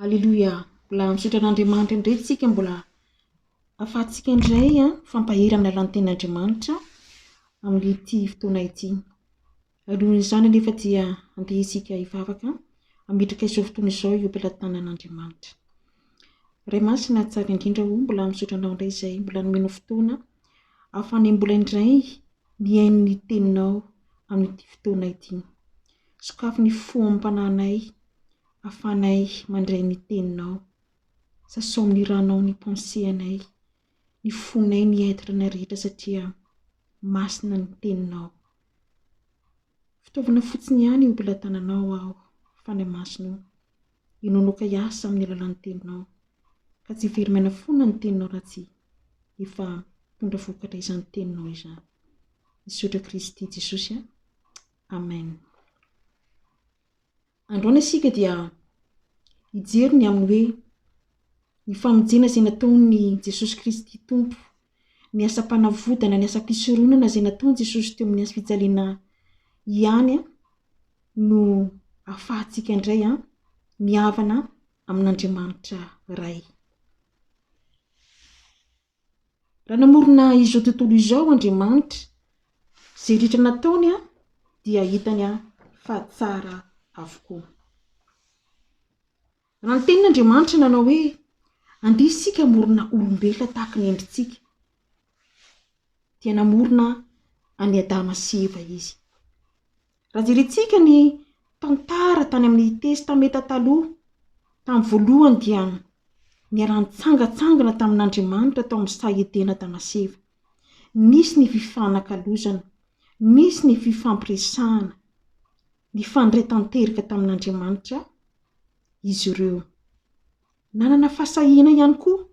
Aleloia! Mbola misaotra an'Andriamanitra indray isika mbola ahafahantsika indray mifampahery amin'ny alalan'ny tenin'Andriamanitra amin'ity fotoana ity. Alohan'izany anefa dia andeha isika hivavaka hametraka izao fotoana izao eo am-pelatanan'Andriamanitra. Ray masina tsara indrindra o, mbola misaotra anao indray izay mbola nomenao fotoana ahafahana mbola indray Mihaino ny Teninao amin'ity fotoana ity. Sokafy ny fo amam-panahinay ahafahanay mandray ny Teninao. Sasao amin'ny Ranao ny pensée-anay, ny fonay, ny être-nay rehetra satria masina ny Teninao. Fitaovana fotsiny ihany io mpilatananao aho, Fanahy Masina o. Ianao loka hiasa amin'ny alalan'ny teninao, ka tsy very maina foana ny teninao raha tsy efa mitondra vokatra izany teninao izany. Misaotra Kristy Jesosy a! Amen. Androany isika dia hijery ny amin'ny hoe ny famonjena izay nataon'ny Jesosy Kristy Tompo ny asam-panavodana, ny asam-pisoronana izay nataon'i Jesosy teo amin'ny hazo fijaliana ihany no ahafahantsika indray mihavana amin'Andriamanitra Ray. Raha namorona izao tontolo izao Andriamanitra, izay rehetra nataony dia hitany fa tsara avokoa. Raha ny Tenin'Andriamanitra nanao hoe, Andeha isika hamorona olombelona tahaka ny endritsika, dia namorona an'i Adama sy Eva Izy. Raha jerentsika ny tantara tany amin'ny Testamenta Taloha, tamin'ny voalohany dia niara-nitsangantsangana tamin'Andriamanitra tao amin'ny saha Edena Adama sy Eva. Nisy ny fifanakalozana, nisy ny fifampiresahana. Nifandray tanteraka tamin'Andriamanitra izy ireo. Nanana fahasahiana ihany koa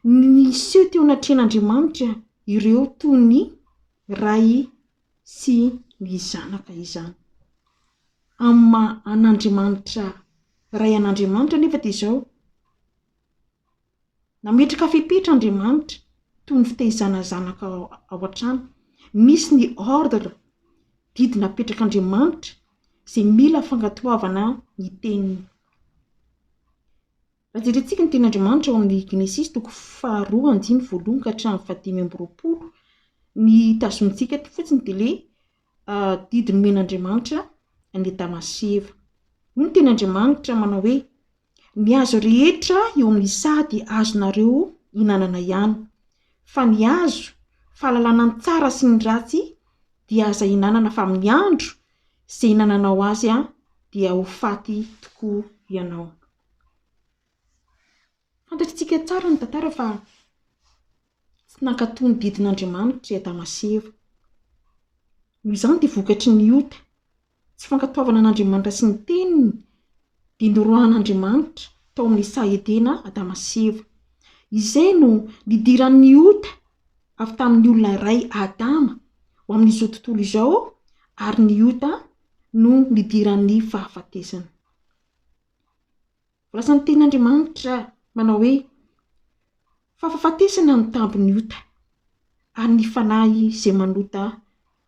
ny niseho teo anatrehan'Andriamanitra ireo toy ny ray sy ny zanaka izany. Amin'ny maha an'Andriamanitra Ray an'Andriamanitra anefa dia izao, Nametraka fepetra Andriamanitra, toy ny fitaizana zanaka ao an-trano. Misy ny ordre, didy napetrak'Andriamanitra, izay mila fankatoavana ny Teniny. Raha jerentsika ny Tenin'Andriamanitra ao amin'ny Genesisy toko faharoa andininy voalohany ka hatramin'ny fahadimy amby roapolo, ny tazonintsika eto fotsiny dia ilay Didy nomen'Andriamanitra an'i Adama sy Eva. Hoy ny Tenin'Andriamanitra manao hoe, Ny hazo rehetra eo amin'ny saha dia azonareo ihinanana ihany, fa ny hazo fahalalana ny tsara sy ny ratsy dia aza ihinanana fa amin'ny andro izay ihinananao azy dia ho faty tokoa ianao. Fantatritsika tsara ny tantara fa. Tsy nankatò ny didin'Andriamanitra i Adama sy Eva. Noho izany dia vokatry ny ota, tsy fankatoavana an'Andriamanitra sy ny Teniny, dia noroahan'Andriamanitra tao amin'ny saha Edena Adama sy Eva. Izay no nidiran'ny ota avy tamin'ny olona iray, Adama, ho amin'izao tontolo izao, ary ny ota no nidiran'ny fahafatesana. Voalaza ny teny Andriamanitra manao hoe, Fahafafatesana no tambin'ny ota, ary ny fanahy izay manota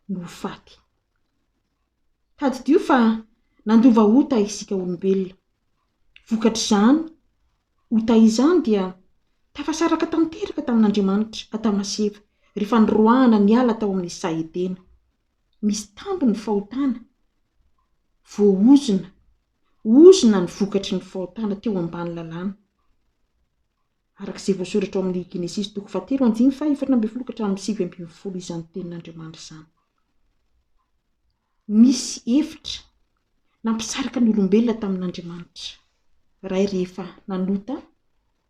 no ho faty. Tadidio fa nandova ota isika olombelona. Vokatr'izany ota izany dia tafasaraka tanteraka tamin'Andriamanitra Adama sy Eva rehefa niroahana niala tao amin'ny saha Edena. Misy tambin'ny fahotana voaozona ozona ny vokatry ny fahotana teo ambany lalàna, araka izay voasoratra ao amin' ny Genesisy toko fahatelo andininy fahaefatra ambin'ny folo ka hatramin' ny sivy ambin'ny folo izany tenin' Andriamanitra izany. Nisy efitra nampisaraka ny olombelona tamin' Andriamanitra Ray rehefa nanota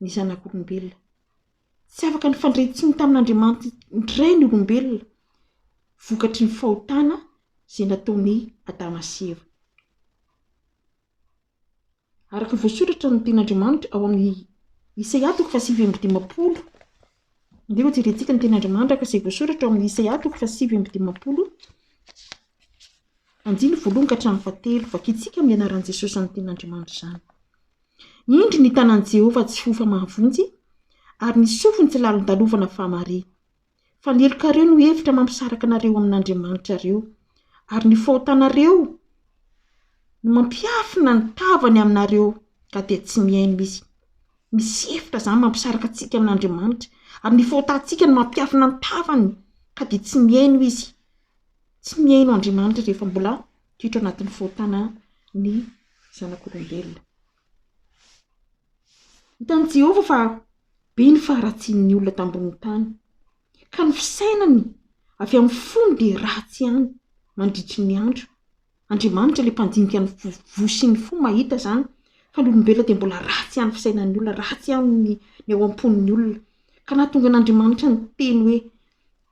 ny Zanak' olombelona. Tsy afaka nifandray intsony tamin'Andriamanitray ny olombelona, vokatry ny fahotana izay nataon'i Adama sy Eva. Araka ny voasoratra ny tenin'Andriamanitra ao amin'ny Isaia toko fahasivy amby dimampolo, andeha hojerentsika ny tenin'Andriamanitra araka izay voasoratra ao amin'ny Isaia toko fahasivy amby dimampolo, andininy voalohany ka hatramin'ny fahatelo. Vakintsika amin'ny anaran'i Jesosy izany tenin'Andriamanitra izany. Indro ny tanan'i Jehovah tsy hofa mahavonjy, ary ny sofiny tsy lalin-dalovana fa mare. Fanelokareo no hevitra mampisaraka anareo amin'Andriamanitrareo, ary ny fahotanareo no mampiafina ny tavany aminareo ka dia tsy mihaino izy. Misy hevitra izany mampisaraka antsika amin'Andriamanitra, ary ny fahotantsika no mampiafina ny tavany ka dia tsy mihaino izy. Tsy mihaino Andriamanitra rehefa mbola toetra ao anatin'ny fahotana ny. zanak'olombelona. Hitan'i Jehovah fa be ny faharatsian'ny olona tambonin'ny tany, ka ny fisainany avy amin'ny fony dia ratsy ihany mandritry ny andro. Andriamanitra ilay Mpandinika ny voa sy ny fo mahita izany fa ny olombelona dia mbola ratsy ihany ny fisainan'ny olona, ratsy ihany ny ny ao am-pon'ny olona, ka nahatonga an'Andriamanitra niteny hoe,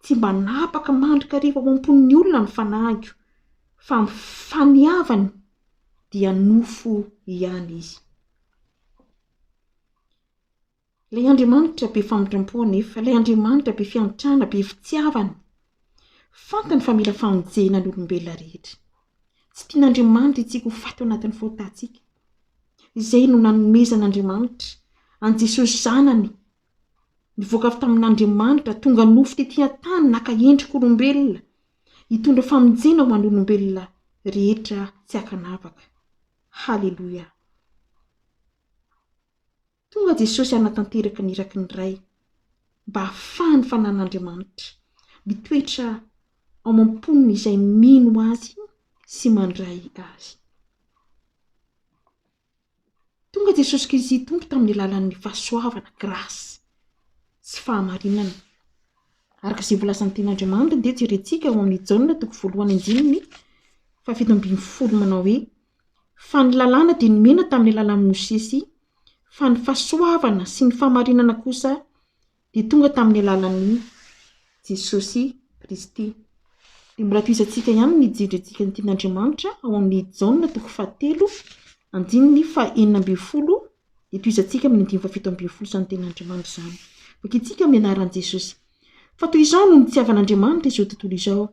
Tsy mba napaka mandrakariva ao am-pon'ny olona ny fanahiko, fa amin'ny faniavany, dia nofo ihany izy. Ilay Andriamanitra be famitram-po anefa, ilay Andriamanitra be fiantrana, be fitiavana, fantany fa mila famonjena ny olombelona rehetra. Tsy tian'Andriamanitra isika ho faty ao anatin'ny faotantsika. Izay no nanomezan'Andriamanitra an'i Jesosy Zanany nivoaka avy tamin'Andriamanitra, tonga nofo tetỳ an-tany, naka endrik'olombelona, hitondra famonjena ho an'olombelona rehetra tsy an-kanavaka. Haleloia! Tonga Jesosy hanatanteraka ny iraky ny Ray, mba hahafahan'ny Fanan'Andriamanitra mitoetra ao am-pon'izay mino Azy sy mandray Azy. Tonga Jesosy Kristy Tompo tamin'ny alalan'ny fahasoavana, grâce, sy fahamarinana. Araka izay voalazan'ny Tenin'Andriamanitra dia jerentsika ao amin'ny Jaona toko voalohany andininy fahafito ambin'ny folo manao hoe, Fa ny lalàna dia nomena tamin'ny alalan'i Mosesy, fa ny fahasoavana sy ny fahamarinana kosa Dia tonga tamin'ny alalan'i Jesosy Kristy. Dia mbola tohiza antsika ihany ny jiro iantsika ny tian'Andriamanitra ao amin'ny Jaona toko fahatelo andininy fahenina ambin'ny folo dia tohiza antsika amin'ny andininy fahafito ambin'ny folo izany tenin'Andriamanitra izany. Vakintsika amin'ny anaran'i Jesosy. Fa toy izao no nitiavan'Andriamanitra izao tontolo izao,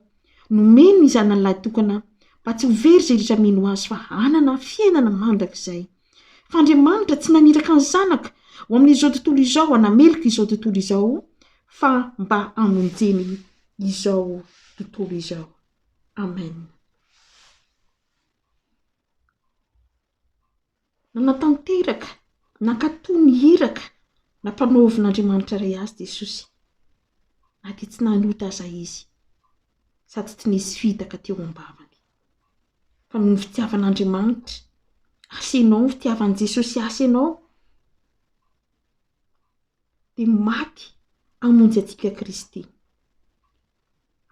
nomeny ny zanany lahy tokana mba tsy ho very izay rehetra mino azy fa hanana fiainana mandrakizay. Fa Andriamanitra tsy naniraka ny Zanaka ho amin'izao tontolo izao hanameloka izao tontolo izao, fa mba hamonjeny izao tontolo izao. Amen. Nanatanteraka, nankatò ny iraka nampanaovin'Andriamanitra iray azy Jesosy, na dia tsy nanota aza Izy, sady tsy nisy fihitaka teo am-bavany. fa noho ny fitiavan'Andriamanitra ahy sy ianao, fitiavan'i Jesosy ahy sy ianao, dia maty hamonjy antsika Kristy.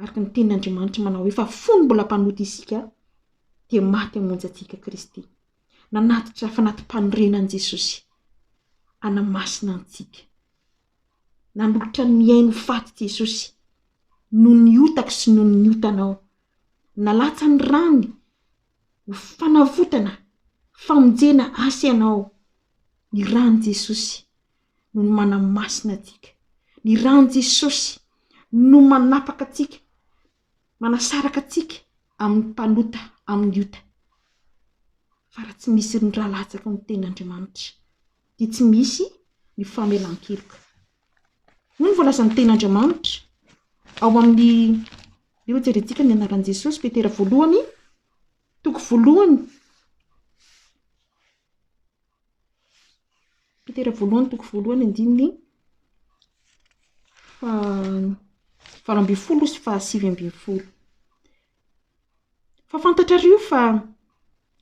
Araka ny tenin'Andriamanitra manao hoe, fa fony mbola mpanota isika, dia maty hamonjy antsika Kristy. Nanatitra fanati-panorenan'i Jesosy hanamasina antsika. Nanolotra ny mihaino ho faty Jesosy noho ny otako sy noho ny otanao. Nalatsa ny rany ho fanavotana, famonjena asa ianao. Ny rany Jesosy no ny manamasina antsika. Ny rany Jesosy no manapaka antsika, manasaraka antsika amin'ny mpanota, amin'ny ota. Fa raha tsy misy ny ra latsaky ny tenin'Andriamanitra. dia tsy misy ny famelan-keloka. Hoy ny voalazan'ny tenin'Andriamanitra ao amin'ny eo jerentsika ny anaran'i Jesosy Petera voalohany toko voalohany Petera voalohany toko voalohany andininy fa valo ambin'ny folo sy fahasivy ambin'ny folo. Fa fantatrareo fa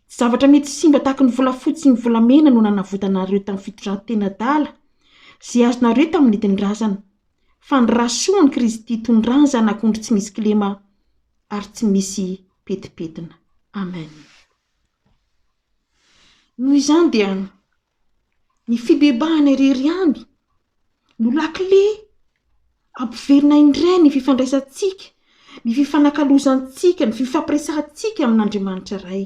tsy zavatra mety simba tahaka ny volafotsy sy ny volamena no nanavotana anareo tamin'ny fitondran-tena adala izay azonareo tamin'ny nentin-drazana, fa ny ra soa an'i Kristy itondràn Zanak'ondry tsy misy kilema ary tsy misy petipetina. Amen. Noho izany dia. Ny fibebahana irery ihany no lakile hampiverina indray ny fifandraisantsika, ny fifanakalozantsika, ny fifampiresahantsika amin'Andriamanitra Ray.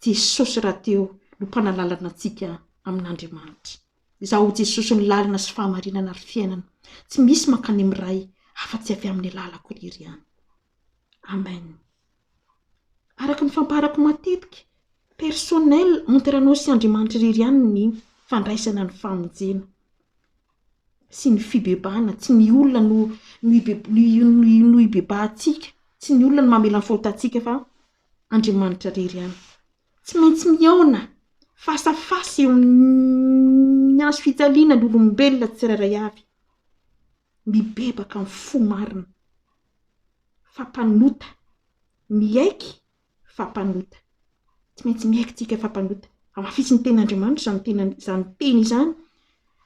Jesosy rahateo no Mpanalalana antsika amin'Andriamanitra. Izaho ho Jesosy ny lalana sy fahamarinana ary fiainana. Tsy misy mankany amin'ny Ray afa-tsy avy amin'ny alalako irery ihany. Amen. Araka ny fampaharako matetika, personnel entre anao sy Andriamanitra irery ihany ny fandraisana ny famonjena sy ny fibebahana, tsy ny olona no no ibe no ibebahantsika, tsy ny olona no mamela ny fahotantsika fa Andriamanitra irery ihany, tsy maintsy mihaona face à face eo amin'ny hazo fijaliana ny olombelona tsirairay avy, mibebaka amin'ny fo marina, fa mpanota, miaiky fa mpanota. Tsy maintsy miaiky tsika fa mpanota. Hamafisin'ny tenin'Andriamanitra izany tena izany teny izany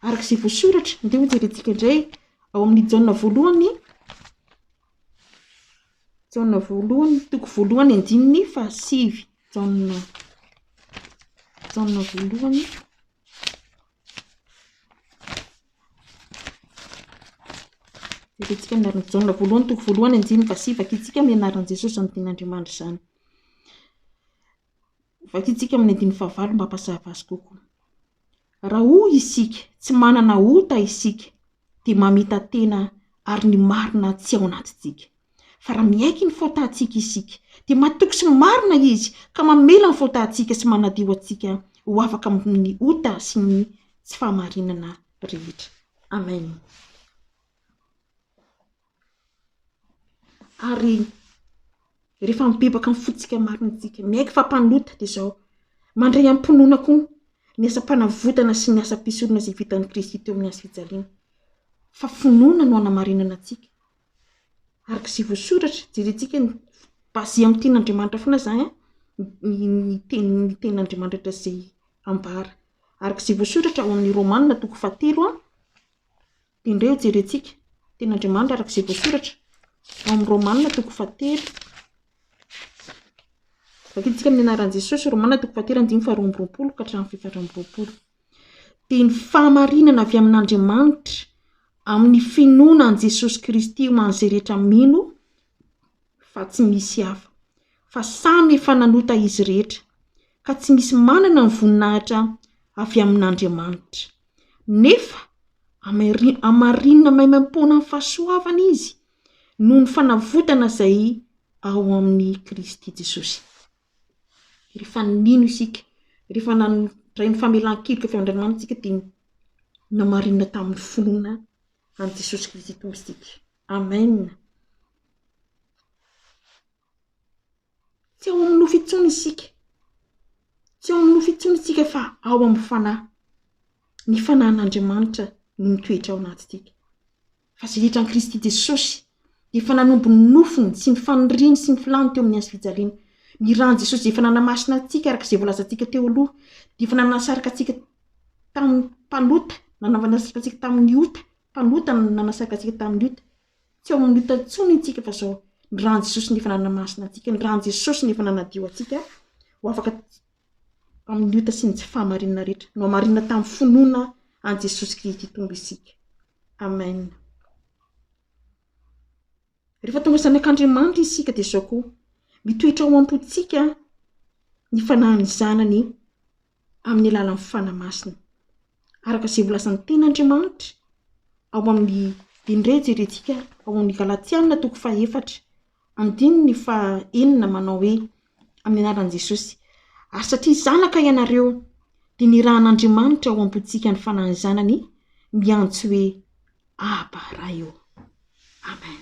araka izay voasoratra. Andeha ho jerentsika indray ao amin'ny Jaona voalohany, Jaona voalohany toko voalohany andininy fahasivy, Jaona, Jaona voalohany. Herentsika ny anaran'i Jaona voalohany toko voalohany andininy fahasivy, vakintsika amin'ny anaran'i Jesosy amin'ny tenin'Andriamanitra izany. Vakintsika amin'ny andininy fahavalo mba hampazava azy kokoa. Raha hoy isika, tsy manana ota isika, dia mamita-tena ary ny marina tsy ao anatintsika. Fa raha miaiky ny fahotàntsika isika, dia matoky sy marina Izy ka mamela ny fahotàntsika sy manadio antsika ho afaka amin'ny ota sy ny tsy fahamarinana rehetra. Amen. Ary rehefa mibebaka amin'ny fontsika marina isika, miaiky fa mpanota, dia izao, mandray am-pinoana koa ny asam-panavotana sy ny asam-pisorona izay vitan'i Kristy teo amin'ny hazofijaliana, fa finoana no hanamarinana antsika Araka izay voasoratra, jerentsika ny basé amin'ny tenin'Andriamanitra foana izany an, ny tenin'ny tenin'Andriamanitra izay ambara. Araka izay voasoratra ao amin'ny Romana toko fahatelo an, dia indray eo jerentsika ny tenin'Andriamanitra araka izay voasoratra ao amin'ny Romana toko fahatelo. Vakintsika amin'ny anaran'i Jesosy Romana toko fahatelo andininy faharoa amby roapolo ka hatramin'ny fito amby roapolo. dia ny fahamarinana avy amin'Andriamanitra amin'ny finoana an'i Jesosy Kristy ho an'izay rehetra mino fa tsy misy hafa, fa samy efa nanota izy rehetra, ka tsy misy manana ny voninahitra avy amin'Andriamanitra. Nefa amari- amarinina maimaim-poana amin'ny fahasoavana izy noho ny fanavotana izay ao amin'i Kristy Jesosy. Rehefa nino isika, rehefa nandray ny famelan-keloka avy amin'Andriamanitra isika dia namarinina tamin'ny finoana an'i Jesosy Kristy Tompo isika. Amen. Tsy ao amin'ny nofo intsony isika, tsy ao amin'ny nofo intsony isika fa ao amin'ny fanahy, ny fanahin'Andriamanitra no mitoetra ao anatintsika. Fa izay hitran'i Kristy Jesosy, dia efa nanombo ny nofony sy ny faniriany sy ny filàny teo amin'ny hazo fijaliana. Ny ran'i Jesosy izay efa nanamasina antsika araka izay voalazantsika teo aloha, dia efa nanasaraka antsika tamin'ny mpanota, nanasaraka antsika tamin'ny ota, mpanota no nanasaraka antsika tamin'ny ota. Tsy ao amin'ny ota intsony intsika fa izao, ny ran'i Jesosy no efa nanamasina antsika, ny ran'i Jesosy no efa nanadio antsika ho afaka amin'ny ota sy ny tsy fahamarinana rehetra. Nohamarina tamin'ny finoana an'i Jesosy Kristy Tompo isika. Amen. Rehefa tonga zanak'Andriamanitra isika dia izao koa, mitoetra ao am-pontsika ny fanahin'ny Zanany amin'ny alalan'ny Fanahy Masina. Araka izay volazan'ny tenin'Andriamanitra ao amin'ny dinireja irentsika ao amin'ny Galatiana toko fahefatra Andininy faha enina manao hoe, Amin'ny anaran'i Jesosy, ary satria zanaka ianareo, dia nirahan'Andriamanitra ao am-pontsika ny Fanahin'ny Zanany miantso hoe, Aba, Ray ô! Amen.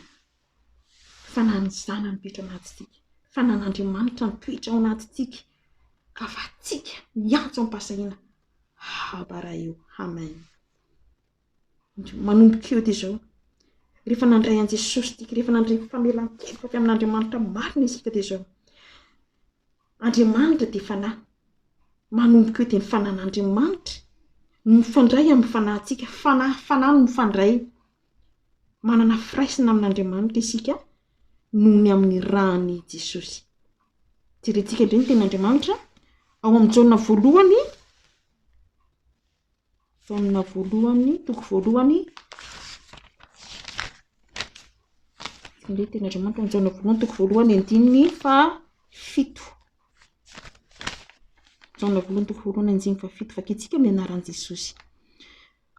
Fanahin'ny Zanany mitoetra ao anatintsika. Fanahin'Andriamanitra mitoetra ao anatintsika ka afahantsika miantso amim-pahasahiana, Aba, Ray ô! Amen. Manomboka eo dia izao, rehefa nandray an'i Jesosy isika, rehefa nandray famelan-keloka avy amin'Andriamanitra marina isika dia izao, Andriamanitra dia Fanahy, manomboka eo dia ny Fanan'Andriamanitra no mifandray amin'ny fanahintsika, Fanahy Fanahy no mifandray, manana firaisana amin'Andriamanitra isika noho ny amin'ny ran'i Jesosy. Jerentsika indray ny tenin'Andriamanitra ao amin'i Jaona voalohany. Taonina voalohany, toko voalohany. Indray teny Andriamanitra, taona voalohany, toko voalohany, andininy fahafito. Taona voalohany, toko voalohany, andininy fahafito. Vakintsika ny anaran'i Jesosy.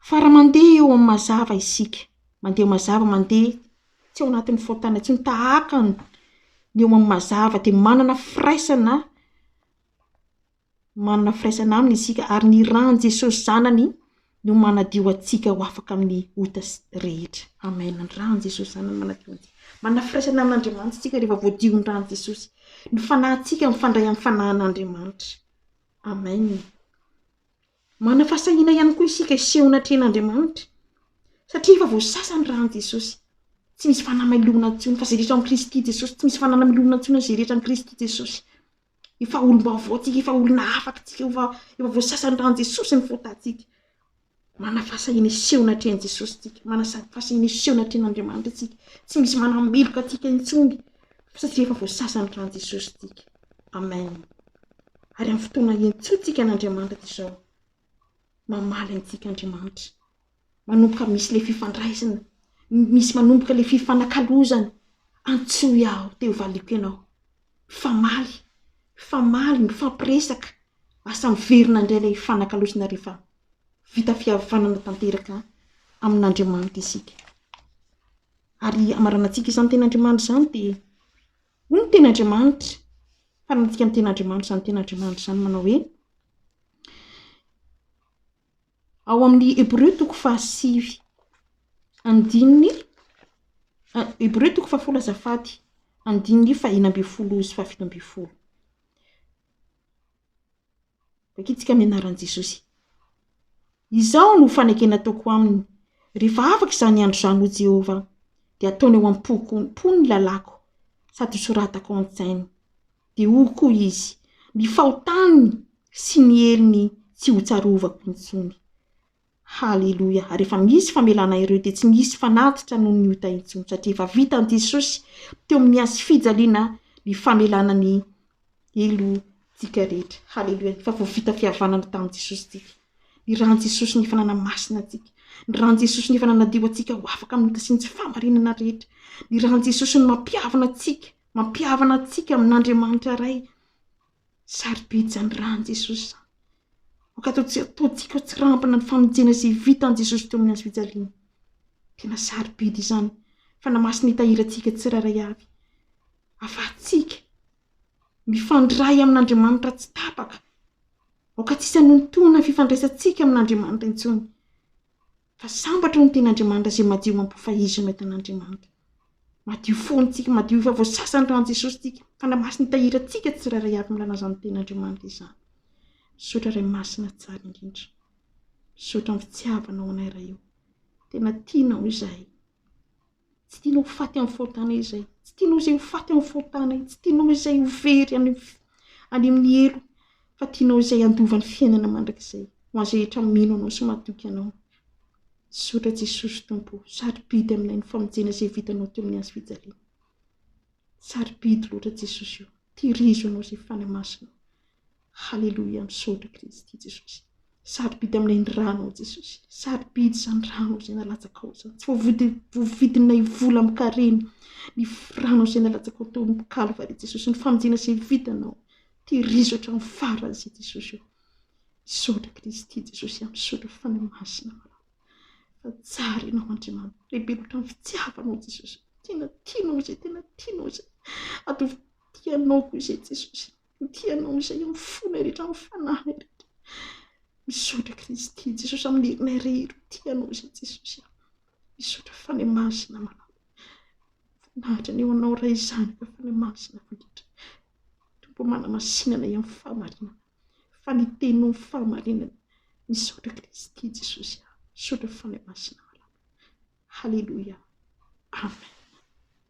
Fa raha mandeha eo amin'ny mazava isika, mandeha mazava, mandeha tsy ao anatin'ny fahotana intsony, tahaka ny eo amin'ny mazava, dia manana firaisana, manana firaisana aminy isika ary ny ran'i Jesosy zanany no manadio antsika ho afaka amin'ny ota rehetra. Amen, ny ran'i Jesosy zanany manadio antsika. Manana firaisana amin'Andriamanitra isika rehefa voadion'ny ran'i Jesosy. Ny fanahintsika mifandray amin'ny fanahin'Andriamanitra. Amen. Manana fahasahiana ihany koa isika hiseho anatrehan'Andriamanitra satria efa voasasa ny ran'i Jesosy. Tsy misy fanamelohana intsony fa izay rehetra amin'i Kristy Jesosy, tsy misy fanamelohana intsony izay rehetra amin'i Kristy Jesosy. Efa olom-baovao tsika, efa olona hafa tsika, efa efa voasasan'ny ran'i Jesosy ny fahotàntsika. Manana fahasahiana hiseho anatrehan'i Jesosy tsika, manasa fahasahiana hiseho anatrehan'Andriamanitra tsika, tsy misy manameloka antsika intsony satria efa voasasan'ny ran'i Jesosy tsika. Amen. Ary amin'ny fotoana iantsoantsika an'Andriamanitra toy izao, mamaly antsika Andriamanitra. manomboka misy le fifandraisana, misy manomboka le fifanakalozana, antsoy aho te ho valiko ianao, famaly, famaly, mifampiresaka, asa miverina indray le hifanakalozana rehefa vita fihavanana tanteraka amin'Andriamanitra isika, ary hamaranantsika izany tena Andriamanitra izany de, hoy ny teny Andriamanitra, faranantsika ny teny Andriamanitra izany teny Andriamanitra izany manao hoe. Ao amin'ny Hebreo toko fahasivy andininy Hebreo toko fahafolo azafady andininy fahina ambin'ny folo sy fahafito ambin'ny folo. Vakintsika amin'ny anaran'i Jesosy. Izao no fanekena ataoko aminy, rehefa afaka izany andro izany hoy Jehovah, dia ataony ao am-poko am-pony ny lalàko sady hosoratako ao an-tsainy. Dia hoy koa izy, Ny fahotany sy ny helony tsy hotsarovako intsony. Haleloia! Ary rehefa misy famelana ireo dia tsy misy fanatitra noho ny ota intsony, satria efa vitan'i Jesosy teo amin'ny hazo fijaliana ny famelana ny helotsika rehetra. Haleloia! Efa voavita fihavanana tamin'i Jesosy isika. Ny ran'i Jesosy no efa nanamasina antsika. Ny ran'i Jesosy no efa nanadio antsika ho afaka amin'ny ota sy ny tsy fahamarinana rehetra. Ny ran'i Jesosy no mampihavana antsika Mampihavana antsika amin'Andriamanitra Ray. Sarobidy izany ran'i Jesosy izany. Aoka ataontsika ho tsirambina ny famonjena izay vitan'i Jesosy teo amin'ny hazo fijaliana. Tena sarobidy izany, fa na masina hitahirantsika tsirairay avy. Afahantsika mifandray amin'Andriamanitra tsy tapaka. Aoka tsy hisy hanontoana ny fifandraisantsika amin'Andriamanitra intsony. Fa sambatra ny tenin'Andriamanitra izay madio amam-po fa Izy no tenin'Andriamanitra. Madio fo antsika, madio efa voasasa ny ran'i Jesosy isika. Fanahy Masina hitahiry antsika tsirairay avy amin'ny lanazan'ny tenin'Andriamanitra izany. Misaotra Ray Masina tsara indrindra. Misaotra amin'ny fitiavanao anay Ray o. Tena tianao izahay. Tsy tianao ho faty amin'ny fahotanay izay. Tsy tianao izay ho faty amin'ny fahotanay. Tsy tianao izay ho very any amin'ny helo, fa tianao izay handova ny fiainana mandrakizay, ho an'izay rehetra mino Anao sy matoky Anao. Misaotra Jesosy Tompo o, sarobidy aminay ny famonjena izay vitanao teo amin'ny hazo fijaliana. Sarobidy loatra Jesosy o! Tehirizo Anao izay fanahy masina o! Haleloia! Misaotra Kristy Jesosy! Sarobidy aminay ny Ranao Jesosy! Sarobidy izany Ranao izay nalatsakao izany! Tsy voavidinay vola amin-karena ny Ranao izay nalatsakao teo amin'ny Kalvary Jesosy! Ny famonjena izay vitanao! Tehirizo hatramin'ny farany izay Jesosy o! Misaotra Kristy Jesosy a! Misaotra fanahy masina Anao! fa tsara ianao Andriamanitra, lehibe loatra ny fitiavanao Jesosy, tena tianao izay tena tianao izay, ataovy ho tianao koa izay Jesosy, ho tianao izay amin'ny fonay rehetra, amin'ny fanahiny rehetra, misaotra Kristy Jesosy amin'ny herinay rehetra, ho tianao izay Jesosy a, misaotra Fanahy Masina malala, voninahitra ny ho anao Ray zanaka Fanahy Masina mandritra, Tompo o manamasinana amin'ny fahamarinana. fa ny teny no fahamarinana misaotra Kristy Jesosy aho misaotra Fanahy Masina malala haleloia amen.